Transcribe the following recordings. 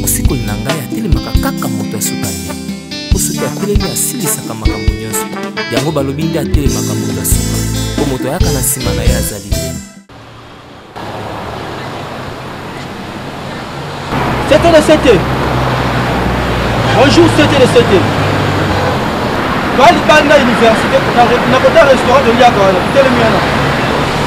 mosikoli na ngai atelemaka kaka moto ya suka te mpo soki atelemi asilisaka makambo nyonso yango balobi nde atelemaka moto ya suka mpo moto ayaka na nsima na ye azali te C'était le CT. Bonjour, c'était le CT. Quand il parle de l'université, dans le restaurant de Liago, il était le mien.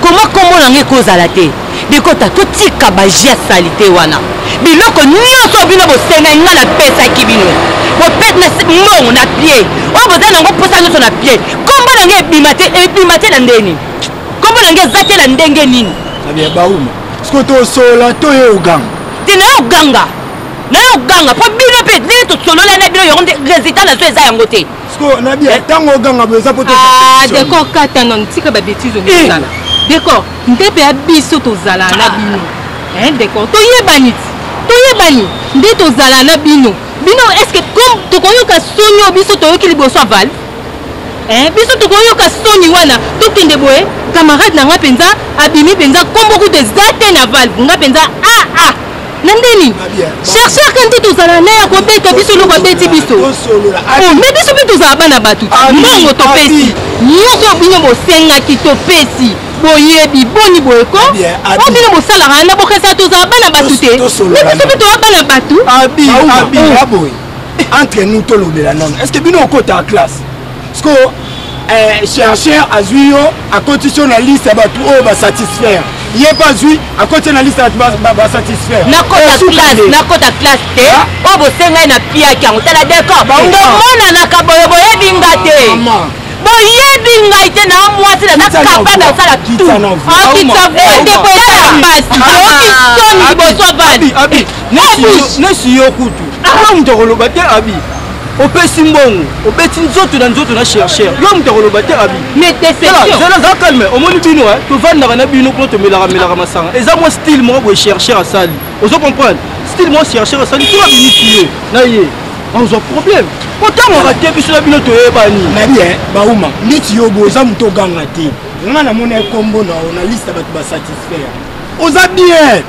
koma nkombo na ngai ekozala te bikota totika baji ya salite wana biloko nyonso bino bosengaki ngai napesaki bino bopete na mbongo na pie oyo boza nango mposa nyonso na pie nkombo na ngai ebima te ebima te na ndeni nkombo na ngai eza te na ndenge nini bauma siko tosola toye oganga te naye oganga naye oganga mpo bino mpe ndenge tosolola na bino yango nde résultat na zo eza yango te sikoyo nabia eh. ntango oganga boye eza po ah, decor kata nono tika babetise okosala eh. decor ntepe ya biso tozala na ah. bino eh, decor toyebani toyebani nde tozala na bino bino estce comme tokoyoka soni oyo biso toyoki liboso ya vale biso tokoyoka soni wana tokende boye camarade na ngai mpenza abimi mpenza nkombo kutu eza te na valve ngai mpenza aa ah, na nde nini chercheur kani te tozala na ya kobeta biso eloko abeti biso oh, me biso mpe tozala bana bato te mbongo topesi nyonso oyo bino bosengaki topesi boyebi boni boyeko o bino bosalaka na bokesa tozala bana bato te me biso mpe toza bana bato entre nous tolobela nano est ce que bino okotaka classe sikoyo eh, chercheur azwi yo akotisi yo na liste ya bato oyo basatisfaire ye mpe azwi akoti na liste basatisfaire nakota classe te ah. oyo bosengai na piaki yango tala decor tomonanaka boye boyebi nga te boyebi ngai te na mwasi naza kapable ya kosala tuokitsavuadekoyambasi liboso bani nesi yo kutu ah. moto akoloba te abi opesi mbongo obeti nzoto na nzoto na chercheur yo moto akoloba te abi zela za calme omoni bino eh? tovandaka na bino kuna tomelaka melaka masanga eza mwa style moko boye chercheur asali ozo comprendre style moko chercheur asali soki abimisi yo na ye ozwa problème otangaka te biso na bino toyebani nabi eh, bauma neti yo boye oza moto oganga te nga namona ekombo na yo na liste ya bato basatisfaire oza bien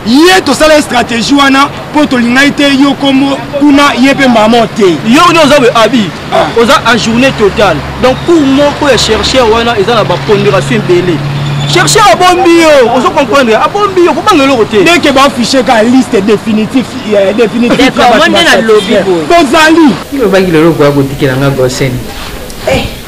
ye tosala stratégie wana mpo tolingai te yo kombo kuna ye mpe mama te yo nde oza abi ah. oza en journée totale donc cour moko ya chercheur wana eza na bapondération ebele chercheur abombi yo ozo comprendre abombi yo kobanga eloko te deke baaffiche ka liste définitif euh, définitifmoi nde nalobi boye bozali ilobaki lelo okoya kotikela nga gosene eh.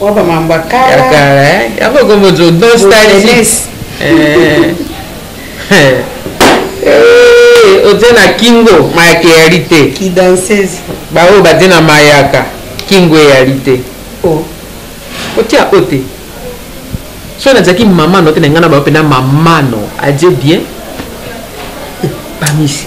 Waba mambo ya kala. Kala eh. Yango kombo zo nostalgie. Eh. Eh, otie na kingo mayaka eyali te kidansese baoyo batie na mayaka kingo eyali te oh. otia o te so nazalaki mamano te na ngai na baoyo mpena mamano adie bien bamisi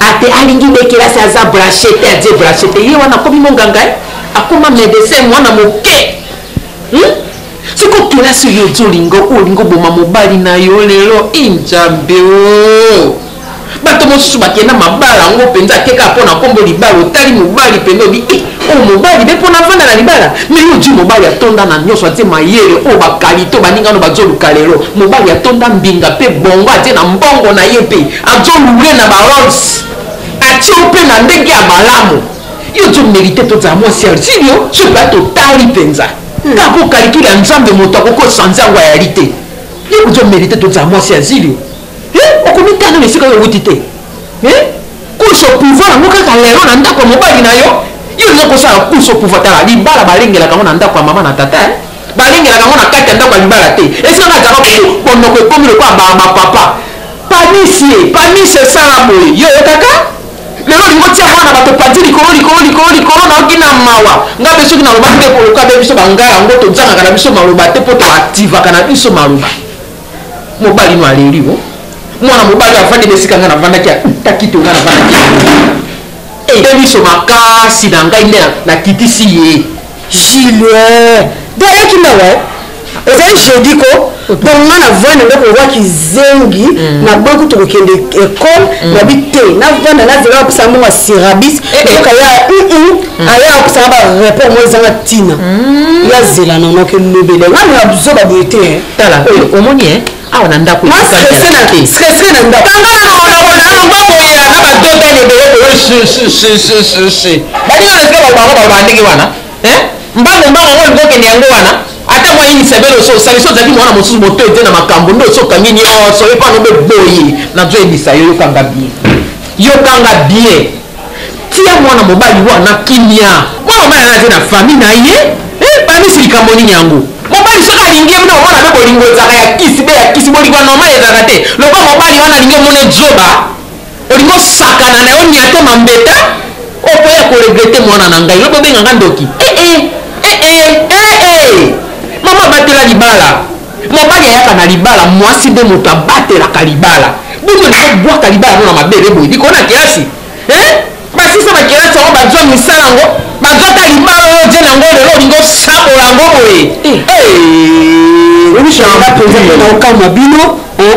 ate alingi nde kelasi aza branche te adie branche te ye wana akomi monganga eh? akoma medecin mwana moke hmm? siko kelasi oyo ozolinga olingi oboma mobali na yo lelo enjambe eh, o oh. bato mosusu bakenda mabala yango mpenza te kaka mpo na nkombo libala otali mobali mpenza obi e eh, oyo oh, mobali mpe mpo na vanda na libala me yo ojui mobali atonda na nyonso atie mayele oyo oh, bakalite oyo baningano bazoluka lelo mobali atonda mbinga mpe bongo atie na mbongo na ye mpe Azo roule na ba rolls. Atie yo mpe na ndenge ya malamu. Yo ozo merite tozala mwasi ya Zilio soki ba totali mpenza. Kaka mpo calcul ya Nzambe moto akoki ko changer yango ayali te. Yo ozo merite tozala mwasi ya Zilio. Eh, okomitanga na esika oyo owuti te. Eh, course au pouvoir yango kaka lelo na ndako ya mobali na yo? Yo olingi kosala course au pouvoir tala libala balengelaka yango na ndako ya mama na tata eh. Balengelaka yango na kati ya ndako ya libala te. Esika nga zaka kutu monoko ekomi lokola ba ba papa. Panisie, panisie esala boye. Yo oyokaka? Lelo olingi otia mwana bato panzi likolo likolo likolo likolo na oki na mawa. Nga mpe soki nalobaki te koloka be biso banga yango tozangaka na biso maloba te mpo to activaka na biso maloba. Mobali no aleli o. Mwana mobali avandi na esika nga navandaki ya takito nga navandaki. Ebe biso makasi na ngai nde na kitisi ye. Julien do ayaki mawa eh? ezali jeudi ko donc nga na vanda nde kowa kizengi mm. na banku tokokende ekole mm. nabi te na vanda nazela bapesa mbongo ya sirabis eh, eh. soka ya mm, aya akosanga bareport mo ezanga ntina yazela nanoke lobele nga na zoba boye te tala omoni e awa na ndako na stresse na ndako baninga natika babango baloba ndenge wana mbango mbango yango olingi okende yango wana ata mwa yinisa bele oso osalisi ozalaki mwana mosusu moto ete na makambo nde osi okangi nyonso yo mpano obe boye nazoyebisa yo yokanga bien yokanga bien Tia mwana mobali wana kimia. Mwana mobali wana aza na famille na ye. Eh, panisi likambo nini yango? Mobali soki alingi ye, mwana mpe bolingo ezalaka ya kisi be ya kisi. Bolingo ya normal ezalaka te. Lokola mobali wana alingi omone zoba, olingi osakana na yo niate mambeta, okoya ko regretter mwana na ngai. Lobi obenga nga ndoki. Eh eh, eh eh, eh eh. Mama batela libala. Mobali ayaka na libala muasi nde mutu abatelaka libala bino olingi obwaka libala no na mabele boye biko na kelasi eh? basisa bakelasi yango bazwa misala yango bazwa ta libala oyo je nango lelo olingi osabola yango boye eh. eh. okamwa bino eh?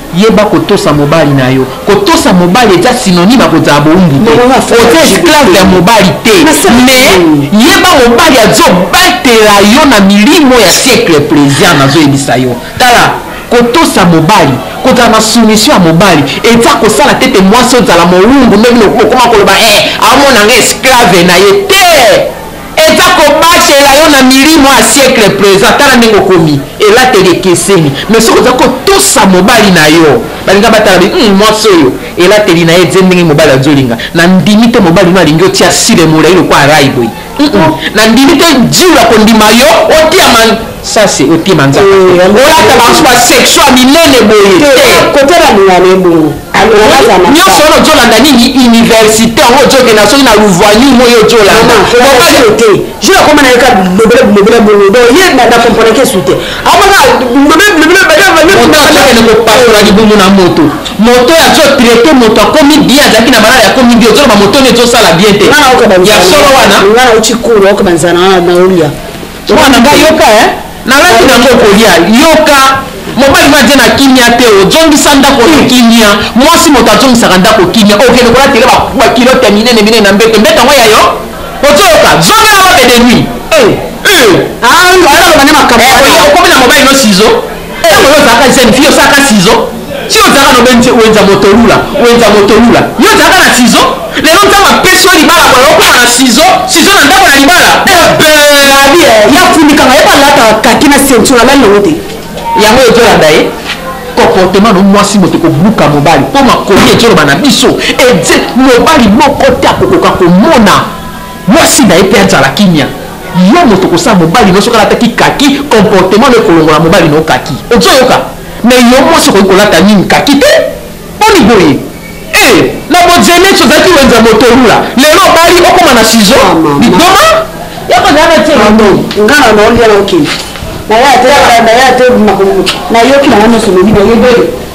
Yeba kotosa mobali na yo. Kotosa mobali eza synonyme ya kozala bowumbu te. Oza esclave ya mobali te. Mais yeba mobali azo batela yo na milimo ya siècle plaisir nazo yebisa yo. Tala kotosa mobali kozala na soumission ya mobali eza kosala te te mwasi ozala mowumbu ndenge okoma koloba eh amona nga esclave na ye te. Eza kobatela yo na milimo ya siècle present. Tala ndenge okomi, elateli ekeseni. Mais soki oza kotosa mobali na yo, balinga batala bi, hum, mwasi oyo elateli na ye, ze ndenge mobali azolinga. Na ndimi te mobali no alingi otia sile molayi lokola rayi boye. Hum, hum. Na ndimi te Jules akondima yo otia man ça c'est otie manzaka. Olata ba sexual minene boye te. Kotia ba ningana ebongo. nyonso wana ojolanda nini université yango ojokenda soki na luvani moi ojolandaote je nakoma na yeka bilobele bilobele bongo do ye na comprendake esu te amaka bilobele bilobele badeakende kopasola libumu na moto moto ya jo traite moto akomi bien azalaki na malala yakomi bien ozoloba moto neti osala bien te ya solo wana nga nauti kuru okobanzana na olia mwana nga yoka eh nalaki nango kolia yoka mobali mwa je na kimia te ozongisa ndako na kimia mwasi moto azongisaka ndako kimia okende kolatele bakilote ya minene minene na mbeto mbeto yango yayo ozoyoka zongela bobe de nuit eh, eh. Ah, okomi na mobali no sizo ntango yo ozalaka jeune fille osalaka sizo ti ozalaka na obenzi wenza motolula wenza motolula yo ozalaka na sizo lelo nzambe apesi yo libala boye okoma na sizo sizo na ndako na libala abi ya funikanga ye balataka kaki na ceinture alali nango te yango ezolanda ye comportement no mwasi moto ekobuka mobali mpo makomi ezoloba na biso ete mobali moko te akokoka komona Mwasi naye pe azala kimia. Yo moto kosala mobali no soki alataki kaki comportement no ekolongola mobali no kaki ozo yoka mais yo mwasi okoki kolata nini kaki te boni boye eh na bojeneti ozalaki wenze ya motolula lelo obali okoma na sizo liboma yako zalaka te ngana na olia na okende na ya te na ya te makomo na yoki na nga nyonso lobi na yebeli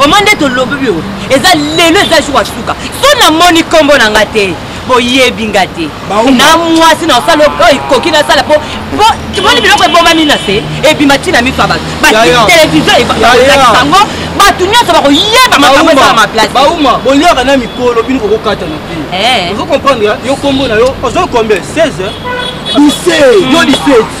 Vraiment nde tolobi oyo eza lelo eza jour ya suka so namoni nkombo na nga te boyebi nga te na mwasi na osala oyo ekoki nasala po tomoni biloko ebomami na se ebima ntina miso ya bato batelevizio ekolakisa yango bato nyonso bakoyeba makambo ezala maplace bauma bolyaka na mikolo bino kokokatana te eh. ozo comprendre yo nkombo na yo ozo combien 16 17 yo 17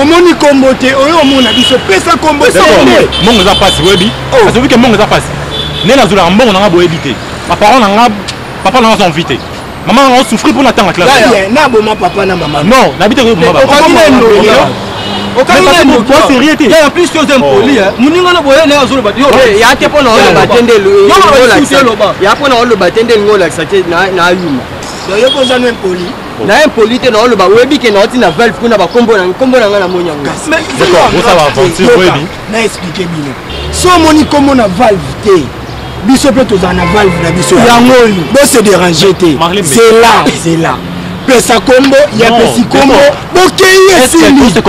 omoni kombo te oyo omona biso pesa kombo mongo eza mpasi oyebi oh. azobi ke mongo eza mpasi nde nazolaka mbongo na nga boyebi te baparent na nga papa na nga aza envi te mama nanga osouffrir mpo natanga klasnaboma papa na mama non nayebi te koyeboma sérieux te en plus yo oza impoli moninga na boye naye azoloba ya te mpo na oloba te nde ya mpo na oloba te nde elingi olakisa te na yuma yo mpo oza no impoli na impoli te naoloba oyebi ke naoti na valve kuna bakombo na nkombo na ngai namoni yango na explike bino so omoni nkombo na valve te biso mpe tozala na valve na biso yango oyo bose dérange te zela zela pesa nkombo ya pesi nkombo bokeyi esiliopesa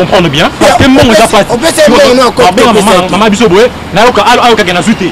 mbongo na mama biso boye nayoka ayokake nazwi te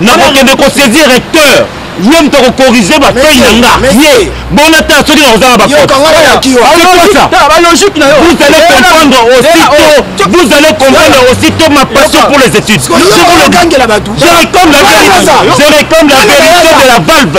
nakokende kosaisir recteur ye moto akokorige bafei na nga ye bona ta soki nakozanga bakotebalogike na yo vous allez comprendre aussitôt vous allez comprendre aussitôt ma passion pour les études je réclame la vérité je réclame la vérité de la valve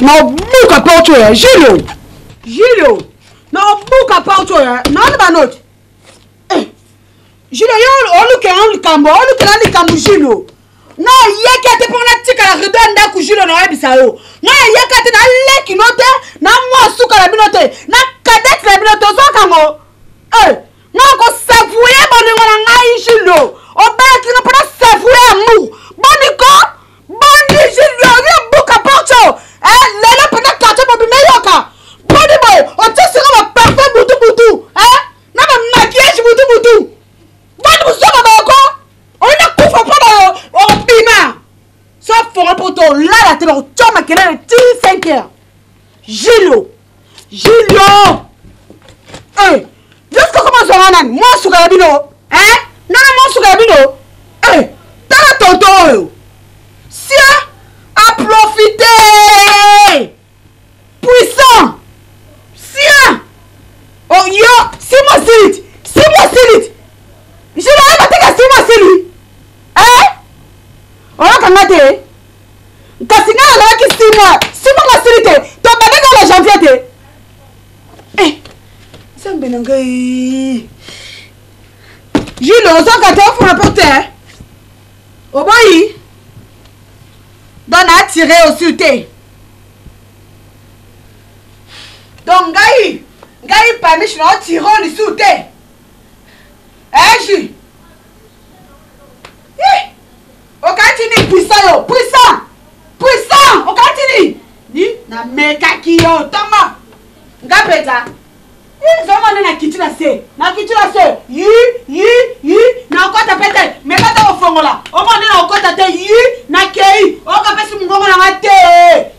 nabuka porte oyo ya julio julio nabuka porte oyo naona banoti eh, julio yo olukela likambo olukela likambo julio nayeki ate mpo natikala rido ya ndako julio nayebisa yo nayeki ate naleki no te na mwa suka na bino te na kadete na bino te ozwakango eh, nakosavoye bolingo na ngai julio obalaki nga mpo nasavoye amour boniko boni jiliori obuka porto eh, lelo mpena karto mobima eyoka boni boye otie siko baparfum butu butu eh, na bamakiage butu butu boni mosuka boko oyina kufa mpo bayo obima so fora mpo to olala te bakotyoma kelele ti 5 heure jilo Julio eh Jessica koma zonga nani mwa suka ya bino eh nana mwa suka ya bino eh tala tonto oyo sia a profite puissant sia oh yo simo silit simo silit Julio ayeba teka simo silit eh oyokanga te kasi ngai nazalaki sima sima masili te tobandaki na janvier te eh, nzambe na ngai jule ozwaka te ofuna mpo te oboyi don na atire osi te donc ngai ngai pamishi na otire o lisusu te eji eh, Okati ni puissant yo, puissant. Puissant, okati ni. Ni na mekaki yo tongo. Nga peta. Eh, zoma nde na kiti na se. Na kiti na se. Yi, yi, yi. Na okota pete. Meka to kofongola. Omo nde na okota te. Yi, na kei. Oka pesi mungongo na nga te.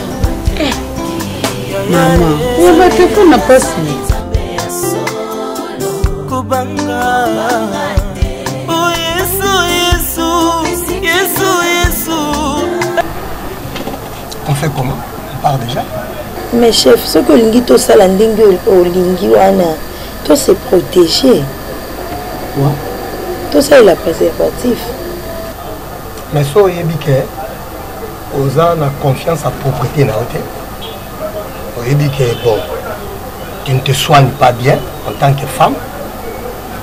mama ya bato eko na mpasi kobanga on fait comment on part déjà mais chef soki olingi tosala ndenge olingi wana to se protéger tosalela préservatif mais so oyebi ke oza na confiance ya propriété na yo te oyebi ke bon tu ne te soigne pas bien en tant que femme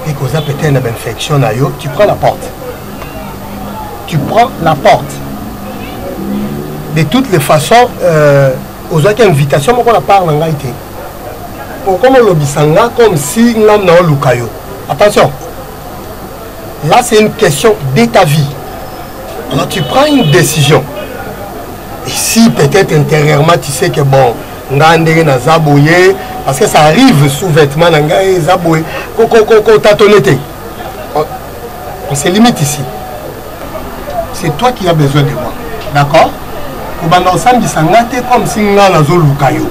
et qu'oza peut-être na bainfection na yo tu prends la porte tu prends la porte de toutes les façons euh, ozwaki invitation moko na part na ngai te okoma olobisa nga comme si ngai naoluka yo attention Là, c'est une question de ta vie. Alors, tu prends une décision. Et si peut-être intérieurement, tu sais que bon, nga ndenge naza boye parce que ça arrive sous vêtement na ngai eza boye kotatone te on se limite ici c'est toi qui as besoin de moi d'accord kobanda osambisa nga te comme si nga nazoluka yo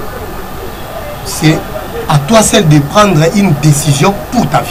c'est à toi seul de prendre une décision pour ta vie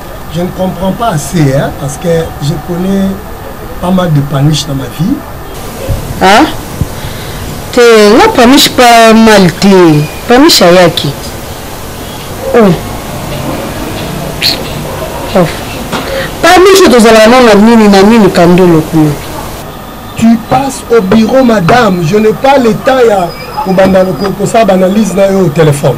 Je ne comprends pas assez, hein, parce que je connais pas mal de paniches dans ma vie. Hein? te nga pamish pa mal te pamish ayaki oh. oh. pamish tozalaka nano na nini na nini kandolo kuna tu passes au bureau madame je n'ai pas le temps ya kobanda kosala baanalyse na yo au téléphone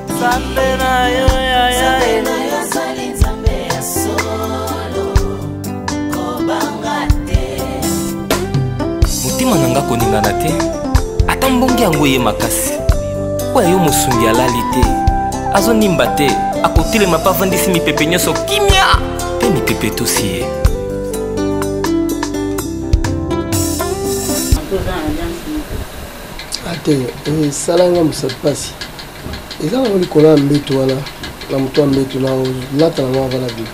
Nzambe na yo ya ya motema na nga koningana te ata mbongi yango eye makasi mpo ya yo mosungi alali te azonimba te akotelema mpe avandisi mipepe nyonso kimia mpe mipepe etosi ye ate esala nga mosatu mpasi eza nango likolo ya mbetu wana na moto ya mbetu na lata nango ava na bino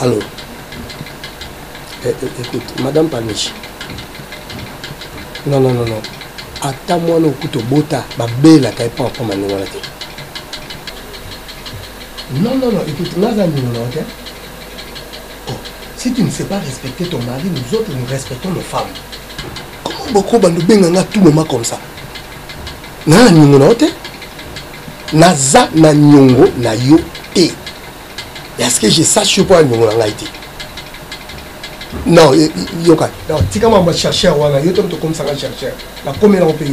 Allô eh, eh, Écoute, Madame Paniche. Non, non, non, non. ata mwana okuta obota babelaka epa akoma ndenge wana te Non, non, non, écoute, nous avons nous, ok oh, Si tu ne sais pas respecter ton mari, nous autres, nous respectons nos femmes. Comment beaucoup de benganga tout moment comme ça N'a nyongo na te Naza na nyongo na yo te. Et à ce que je sache pas nyongo na ngai te. Non, yoka. Non, tika mama chercheur wana, yo to comme ça chercheur. La commune au pays.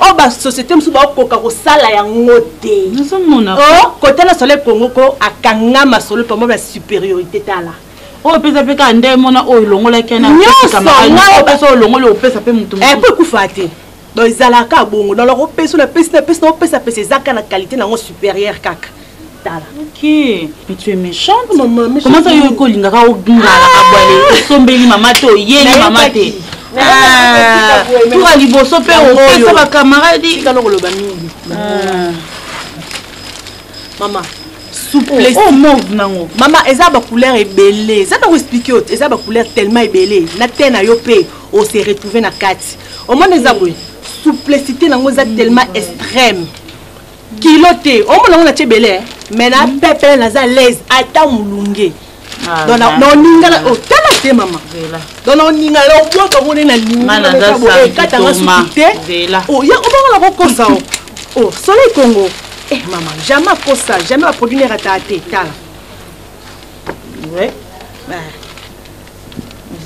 oyo oh, basociété mosusu bakokoka kosala yango te oh, kotala soleil congo ko akanga masolo pamo ba supériorité tala oyo oh, pesa mpe kaka nde mona oyo elongolaki nyonsoolongoli opesa mpe motu eh, mpo ekufa te donc ezalaka bongo donc opesa napesi napesi na opesa pesa ezaka na qualité nango supérieure kaka tala okay. mais tu es méchante comment ça yo kolinga ka ogingala ka bwale osombeli mama te oyeli mama te ah, tura liboso mpe opesa bakamaradi kano koloba mingi ah. mama souplesse oh, oh, mauve nango mama eza bacouleur ebele eza ntango explike yo eza bacouleur tellement ebele na te na yo mpe ose retrouve na kati omona eza boye souplicité nango eza tellement extrême kilo te omona ngo natie ebele eh? mais na mm. pepele naza laise ata molunge ah, donc naoningana otala oh, te mama donc naoningana na obwaka ngo nde nalingiekatanga suki te oya obanga na kokosa o oh. oh, soleil congo eh mama jamais akosa jamais baproduit nerataa te tala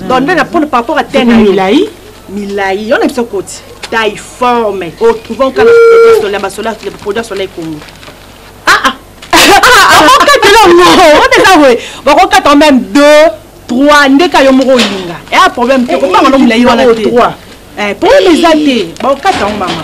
donc nde na pona par rapport à tene milai milai yo na biso koti taille forme otrouvant kaka sola basola produit sola ekongo akokatela ngo oteza boye bakokata meme deux trois nde ka yo moko olinga ea problème te kobanga no molai wana te problème eza te bakokata yango mama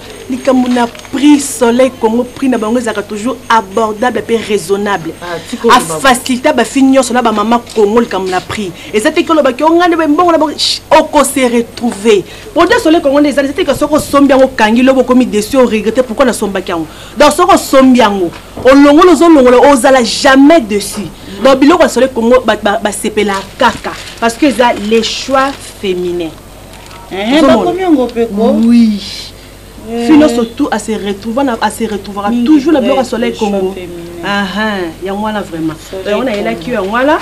likambo na prix soleil congo prix na bango ezalaka toujours abordable mpe raisonnable ah, afacilita bafi nyonso na bamama congo likambo na prix eza te kolobaki onga nde mbongo na bango okose retrouve produit soleil congo nde ezali eza teke soki osombi yango okangi lobo okomi desu oregrete pourkui nasombaki yango donc soki osombi yango olongola ozolongola ozala jamais dessus donc biloko ya soleil congo basepelaka kaka parce que eza le choix féminin Eh, bakomi yango mpe ko oui eh. fino surtout à se retrouver à se retrouvera toujours na biloko ya soleil congo yango wana vraiment yango nayelaki yo yango wana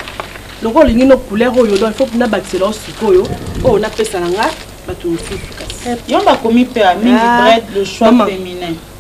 lokola olingi no couleur oyo donc faut nabakisela yo sikoyo oyo napesa na nga bato mosusu kasi yo bakomi mpe amini ah. bred le choix féminin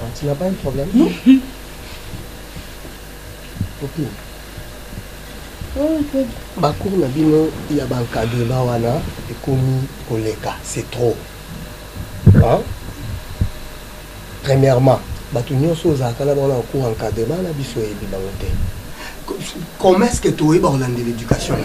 Ah, tu n'as pas un problème Non. Copine. Oh, bacour na bino ya bankadrema wana ekomi koleka c'est trop hein? premièrement bato nyonso ozalaka na bango na cour encadrema na biso oyebi bango te comment est ce que toyeba kolanda l'éducation na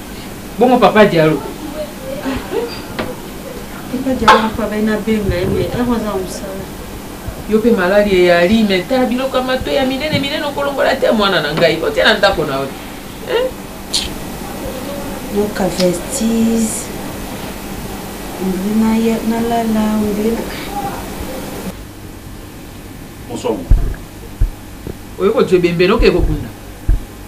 Bongo papa Diallo. Papa Diallo papa ben na benga ye mais ero za musala. Yo pe malali eyali mais ta biloko ya mato ya minene minene okolongola te mwana na ngai otie na ndako na yo. Hein? Donc vestis. Ndina ya na la la ndina. Bonsoir. Oyo ko jebembe no ke ko kunda.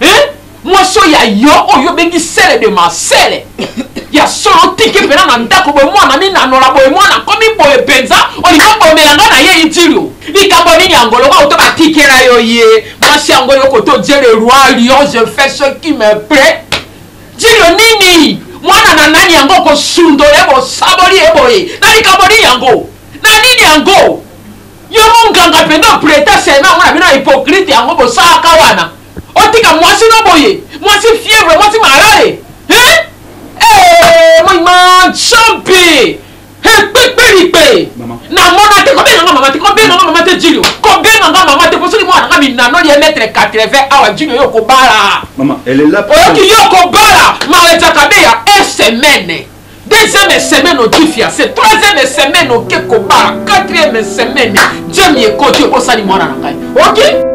hein mwasi oyo ya yo oyo obengi sele de ma sele ya solo tiki mpena na ndako boye mwana minanola boye mwana akomi boye mpenza olingi obomela nga na ye itilio likambo nini yango lokola oto batikela yo ye mwasi yango yo koto je le roi lion je fais ce qui me plaît jilio nini mwana na nani yango okosundo ye bosaboli ye boye na likambo nini yango na nini yango Yo munganga penza opreta serment mwana bino hypocrite yango bosalaka wana otika mwasi no boye mwasi fièvre mwasi malale hein eh moi man champi he kpekpelikpe namona te kobenga nga mama te kobenga nga mama te jilio kobenga nga mama te posoni mwana nga minanoli ya metre 80 awa jilio yo kobala oyoki yo kobala malajakabeya e semaine deuxième semaine odifia se troisième semaine oke kobala quatrième semaine jemi ekoti obosani mwana na ngai oki